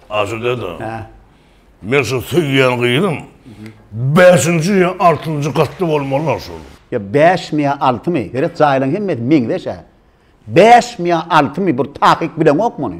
Aşyr dede. Hä. Men şu söýýän gyzym bäşinji ýa altynjy gatda bolmalylar şol. Ýa bäşmi ýa altymy? Geret jaýlaň hemmesi meňzeş-ä. Bäşmi ýa altymy bir takyk bileňok muny.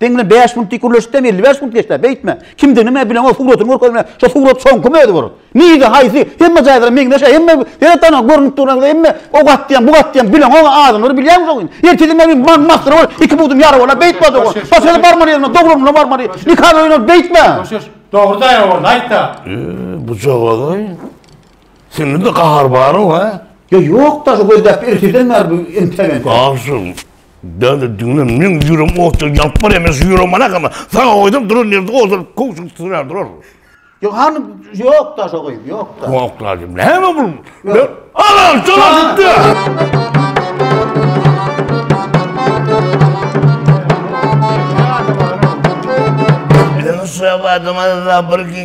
Seň bilen 5 minut dik gürleşdim, 55 minut geçdi. Beýtme. Kimdigini men bilen o suratyny görkezme. Şu surat soňky mözi bor. Nige haýsy? Hemme jaýlara meňzeş, hemme her tana görnüp duran, hemme o gatdyýan, bu gatdyýan bilen o adamlary bilýän şo gün. Ertesi men bir man mahsyr bol, iki budum ýara bola beýtme dogry. Başga barmaly ýerine dogrulygyna barmaly. Nikah öýüne beýtme. Dogry daýan bol, aýtda. Bu jogady. Sende de gahar bar-ow, ha? Ýa ýok-da, şu gözläp erteden bäri bu entegem. Agşam Däli düňle men ýürem otda ýanyp barýar, men şu ýürem ana gama. Saňa goýdum duran ýerde ozal kowşuk sürer durar. Ýok hany ýok da şo gyz ýok da. Ýok da diýme. Hemme bu. Ala şola gitdi. Şola gitdi.